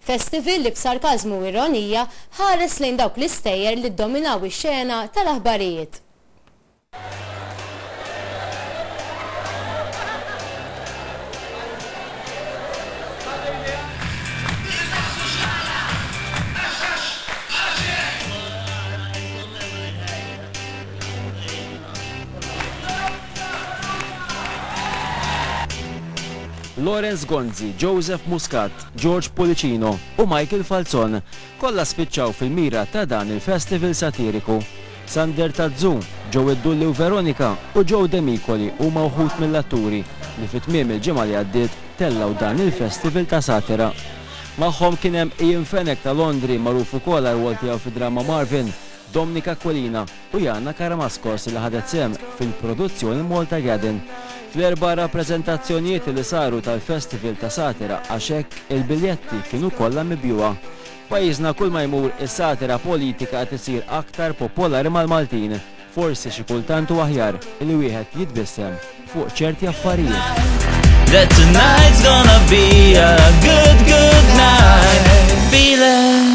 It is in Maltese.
Festival li b'sarkażmu u ironija ħares lejn dawk l-istejjer li ddominaw ix-xena tal-aħbarijiet. Lawrence Gonzi, Joseph Muscat, George Pullicino u Michael Falzon kollha spiċċaw fil-mira ta' dan il-festival satiriku. Sander Tazzu, Joey Dulli u Veronica u Joe Demicoli huma wħud mill-atturi li fi tmiem il-ġimgħa li għaddiet tellgħu dan il-festival ta' satira. Magħhom kien hemm Ian Fenech ta' Londri magħruf ukoll għar-rwol tiegħu fid-drama Marvin, Domnic Aquilina u Yana Karamaskos li ħadet sehem fil-produzzjoni Malta Gadden. Fl-erba' rappreżentazzjonijiet li saru tal-Festival ta' Satira għax hekk il-biljetti kienu kollha mibjugħa. F'pajjiżna kull ma jmur is-satira politika qed issir aktar popolari mal-Maltin. Forsi xi kultant hu aħjar li wieħed jitbissem fuq ċerti affarijiet. That tonight's gonna be a good, good night. Feel it.